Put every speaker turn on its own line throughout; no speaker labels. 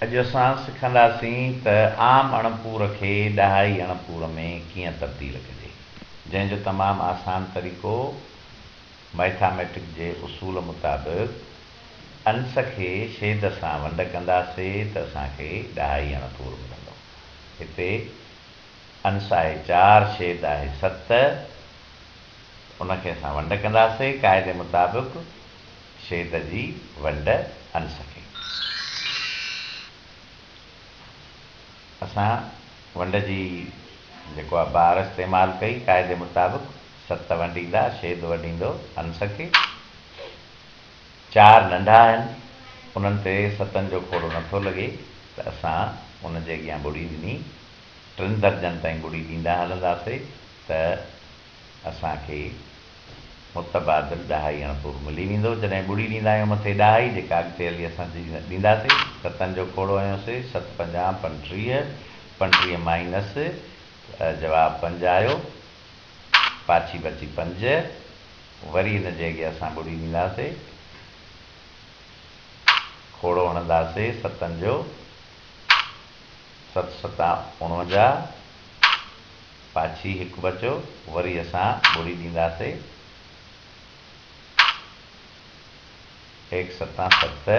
اڄ اسان سکنداسين ته عام اڻپور کي ڏهائي اڻپور ۾ ڪيئن تبديل ڪجي، جنهن جو تمام آسان طريقو مئٿاميٽڪ جي اصول مطابق انس کي شيد سان ونڊ ڪنداسي ته اسان کي ڏهائي اڻپور ملندو. هتي انس آهي چار، شيد آهي ست. ان کي اسان ونڊ ڪنداسين قاعدي مطابق شيد جي ونڊ انس کي اسان ونڊ جي جيڪو آ بار استعمال ڪئي قاعدي مطابق ست ونڊيندا شيد ونڊيندو انس کي چار ننڍا آهن انهن تي ستن جو کوڙو نٿو لڳي ته اسان ان جي اڳيان ٻڙي ڏني ٽن درجن تائين ٻڙي ڏيندا هلنداسين ته اسان کي متبادل ڏهائي اڻپور ملي ويندو، جڏهن ٻڙي ڏيندا آهيون مٿي ڏهائي جيڪا اڳتي هلي اسان ڏيندا سي، ستن جو کوڙو هنيو سي، ست پنجاهه پنٽيهه، پنٽيهه مائينس جواب پنج آيو، پاڇي بچي پنج، وري ان جي اڳيان اسان ٻڙي ڏيندا سي، کوڙو هڻندا سي ستن جو، ست ستان اوڻونجاهه. پاڇي هڪ بچو وري اسان ٻوڙي ڏينداسي. هيڪ ستان ست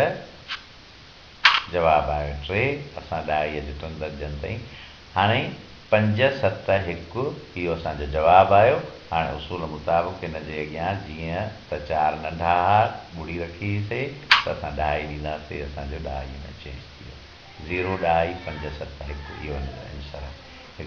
جواب آيو ٽي اسان ڏهائيء جي ٽن درجن تائين هاڻي پنج ست هڪ اهو اسان جو جواب آيو هاڻي اصول مطابق هن جي اڳيان جيئن ته چار ننڍا ها ٻوڙي رکي هئي سي ته اسان ڏهائي ڏيندا سي اسان جو ڏهائيء ۾ چينج ٿي ويو زيرو ڏهائي پنج ست هڪ اهو هن جو انسر آهي.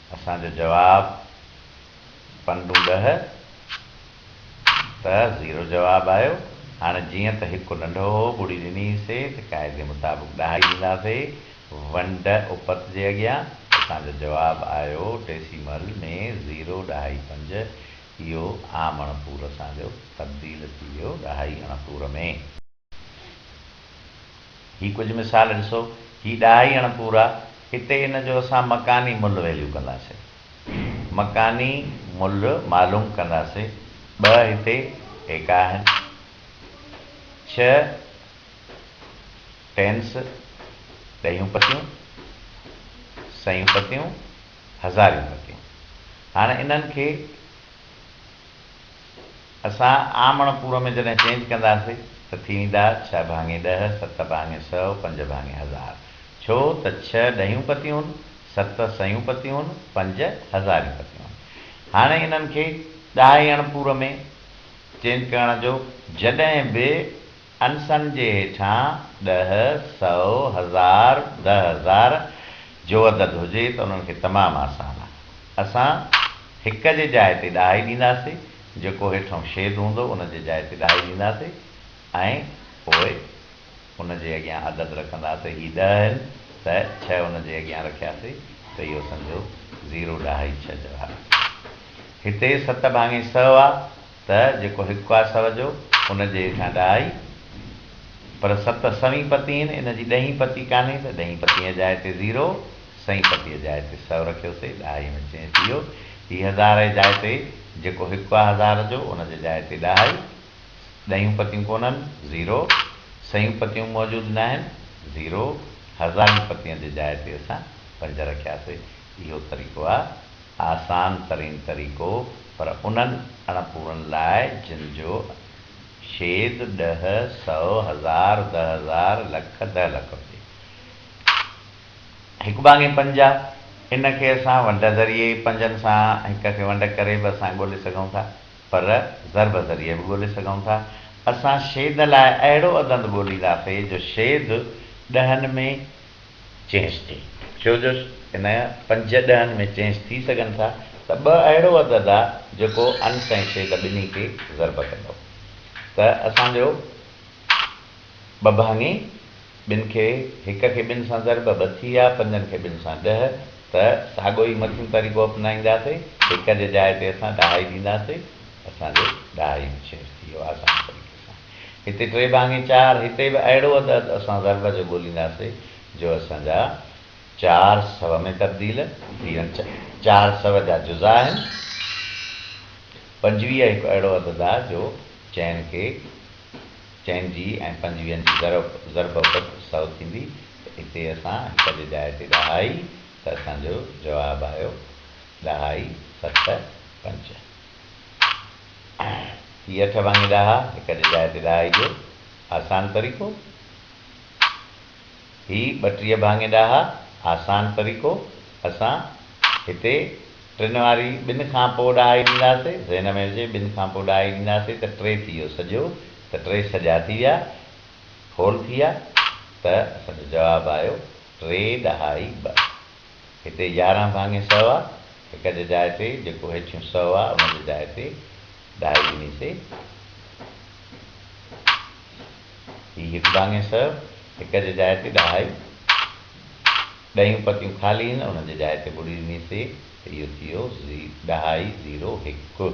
اسان جو جواب پنڊون ڏهه ته زيرو جواب آيو. هاڻي جيئن ته هڪ ننڍو هو ٻڙي ڏني سي ته قاعدي مطابق ڏهائي ڏيندا سي ونڊ اپت جي اڳيان. اسان جو جواب آيو ڊيسيمل ۾ زيرو ڏهائي پنج. اهو عام اڻپور اسان جو تبديل ٿي ويو ڏهائي اڻپور ۾. هي ڪجهه مثال ڏسو، هي ڏاهي اڻ پورا، هتي ان جو اسان مڪاني ملهه ويليو ڪنداسين. مڪاني ملهه معلوم ڪنداسين، ٻه هتي ايڪا آهن، ڇهه ٽينس، ڏهيون پتيون، سيون پتيون، هزاريون پتيون. هاڻ انهن کي. اسان عام اڻپورو ۾ جڏهن چينج ڪنداسي ته ٿي ويندا ڇهه ڀاڱي ڏهه، ست ڀاڱي سؤ، پنج ڀاڱي هزار. ڇو ته ڇهه ڏهيون پتيون هن، ست سيون پتيون هن، پنج هزاريون پتيون هن. هاڻي انهن کي ڏهائي اڻپورو ۾ چينج ڪرڻ جو جڏهن به. انسن جي هيٺان ڏهه، سؤ، هزار، ڏهه هزار جو عدد هجي ته انهن کي تمام آسان آهي. اسان هڪ جي جاء تي ڏهائي ڏينداسي، جيڪو هيٺئون شيد هوندو ان جي جاء تي ڏهائي ڏينداسي ۽ پوء ان جي اڳيان عدد رکنداسي، هي ڏهه آهن ته ڇهه ان جي اڳيان رکياسي ته اهو سمجهو زيرو ڏهائي ڇهه جواب آهي. هتي ست ڀاڱي سؤ آ. ته جيڪو هڪ آهي سر جو، ان جي هيٺان ڏهه آهي، پر ست سوين پتي آهن، ان جي ڏهين پتي ڪانهي ته ڏهين پتيء جي جاء تي زيرو، سئين پتيء جي جاء تي سؤ رکيوسي، ڏهائيء ۾ چينج ٿي ويو. هي هزار جي جاء تي جيڪو هڪ آهي هزار جو، ان جي جاء تي ڏهه آهي. ڏهيون پتيون ڪونهن، زيرو. سئيون پتيون موجود ناهن، زيرو. هزارين پتين جي جاء تي اسان پنج رکياسي. اهو طريقو آهي آسان ترين طريقو پر انهن اڻ پورن لاء جن جو شيد ڏهه سئو هزار دهه هزار لک دهه لک هجي. هڪ ڀاڱي پنج آ ان کي اسان ونڊ ذريعي پنجن سان هڪ کي ونڊ ڪري به اسان ڳولي سگهون ٿا پر ضرب ذريعي به ڳولي سگهون ٿا اسان شيد لاء اهڙو عدند ڳولينداسي جو شيد ڏهن ۾ چينج ٿي ڇو جو ان پنج ڏهن ۾ چينج ٿي سگهن ٿا ته ٻه اهڙو عدد آ جيڪو انس ۽ شيد ٻنهي کي ضرب ڪندو ته اسان جو ٻه ڀاڱي ٻن کي هڪ کي ٻن سان ضرب ٻه ٿي يا پنجن کي ٻن سان ڏهه ته ساڳو ئي مٿيون طريقو اپنائينداسي هڪ جي جاء تي اسان ڏهائي ڏينداسي اسان جو ڏهائي به چينج ٿي ويو آسان طريقي سان. هتي ٽي ڀاڱي چار، هتي به اهڙو عدد اسان ضرب جو ڳولينداسي جو اسان جا چار سو ۾ تبديل ٿي وڃن. چار سو جا جزا آهن. پنجويهه هڪ اهڙو عدد آهي جو چئن کي چئن جي ۽ پنجويهن جي ضرب عدد سو ٿيندي ته هتي اسان هڪ جي جاء تي ڏهائي ته اسان جو جواب آيو ڏهائي ست پنج. هي اٺ ڀاڱي ڏاها هڪ جي جاء تي ڏهائي جو آسان طريقو هي ٻٽيهه ڀاڱي ڏاها آسان طريقو اسان هتي ٽن واري ٻن کان پوء ڏهائي ڏينداسي ذهن ۾ هجي ٻن کان پوء ڏهائي ڏينداسي ته ٽي ٿي ويو سڄو ته ٽي سڄا ٿي ويا هول ٿي ويا ته اسان جو جواب آيو ٽي ڏهائي ٻه. هتي يارهن ڀاڱي سؤ آ، هڪ جي جاء تي جيڪو هيٺيون سؤ آ، ان جي جاء تي ڏهائي ڏنيسي. هي هڪ ڀاڱي سؤ، هڪ جي جاء تي ڏهائي، ڏهيون پتيون خالي آهن، ان جي جاء تي ٻڙي ڏنيسي ته اهو ٿي ويو ڏهائي زيرو هڪ.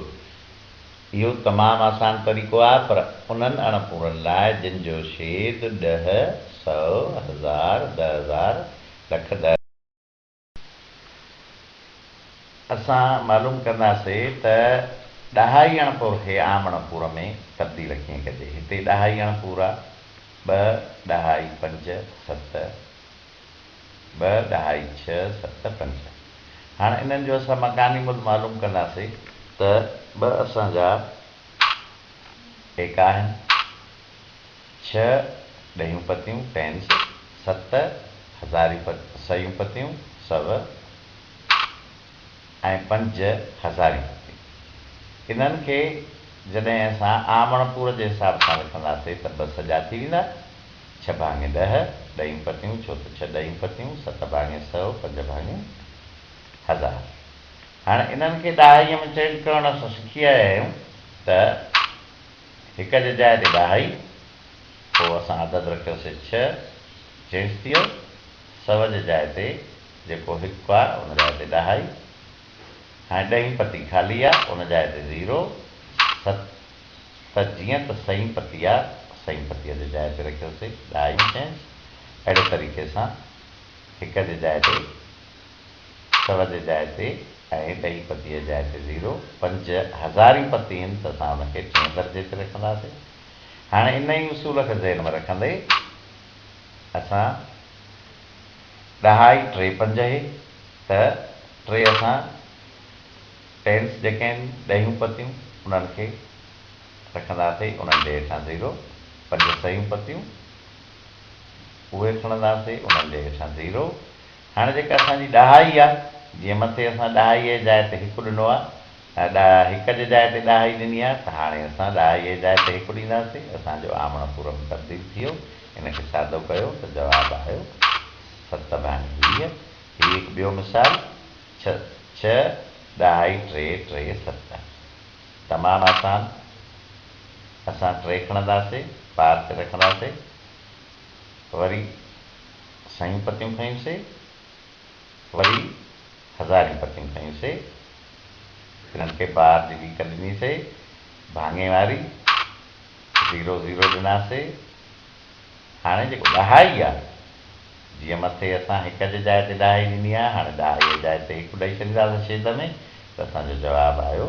اهو تمام آسان طريقو آ، پر انهن اڻ پورن لاء جن جو شيد ڏهه، سؤ، هزار، ڏهه هزار، لک در. اسان معلوم ڪنداسين ته ڏاهائيڻ پور کي آمڻ پور ۾ تبديل ڪيئن ڪجي. هتي ڏاهائيڻ پورا ٻه ڏهائي پنج ست ٻه ڏهائي ڇهه ست پنج. هاڻ انهن جو اسان مڪاني ملهه معلوم ڪنداسين. ته ٻه اسان جا ايڪا آهن. ڇهه ڏهيون پتيون، پينس، ست هزاريون پ سيون پتيون، سو، ۽ پنج هزاريون پتيون. انهن کي جڏهن اسان آمڻ پور جي حساب سان لکنداسين ته ٻه سڄا ٿي ويندا، ڇهه ڀاڱي ڏهه، ڏهيون پتيون، ڇو ته ڇهه ڏهيون پتيون، ست ڀاڱي سو، پنج ڀاڱي هزار. هاڻ انهن کي ڏهائيء ۾ چينج ڪرڻ اسان سکي آيا آهيون ته. هڪ جي جاء تي ڏاهائي، پوء اسان عدد رکيوسي ڇهه، جنس ٿيو، سؤ جي جاء تي جيڪو هڪ آ ان جاء تي ڏاهائي، هاڻي ڏهين پتي خالي آ ان جاء تي زيرو، ست، جيئن ته سئين پتي آ، سئين پتيء جي جاء تي رکيوسي ڏاهائي، جنس، اهڙي طريقي سان هڪ جي جاء تي سرج جاء تي ۽ ڏهي پتيء جاء تي زيرو، پنج هزاري پتي هن ته اسان ان کي ٽئين درجي تي رکنداسين. هاڻي انهيء اصول کي ذهن ۾ رکندي اسان ڏهائي ٽي پنج اهي ته ٽي اسان ٽينس جيڪي آهن ڏهيون پتيون انهن کي رکنداسين انهن جي هيٺان زيرو، پنج سهيون پتيون اهي کڻنداسين انهن جي هيٺان زيرو، هاڻي جيڪا اسان جي ڏهائي آ، جيئن مٿي اسان ڏهائيء جي جاء تي هڪ ڏنو آ، ڏهه هڪ جي جاء تي ڏهائي ڏني آ، ته هاڻي اسان ڏهائيء جي جاء تي هڪ ڏينداسين. اسان جو آمڻ پورم تبديل ٿي ويو. ان کي سادو ڪيو ته جواب آيو ست ڀاڱي ويهه. هي هڪ ٻيو مثال، ڇهه، ڇهه، ڏهائي ٽي، ٽي، ست. تمام آسان، اسان ٽي کڻنداسين، پار تي رکنداسين، وري. سيون پتيون کنيون سي، وري هزارين پتيون کنيون سي، تنهن کي بار جي ليڪ ڏني سي، ڀاڱي واري، زيرو زيرو ڏنا سي، هاڻي جيڪو ڏهائي آ، جيئن مٿي اسان هڪ جي جاء تي ڏهائي ڏني آ، هاڻي ڏهائي جي جاء تي هڪ ڏئي ڇڏينداسين شيد ۾ ته اسان جو جواب آيو.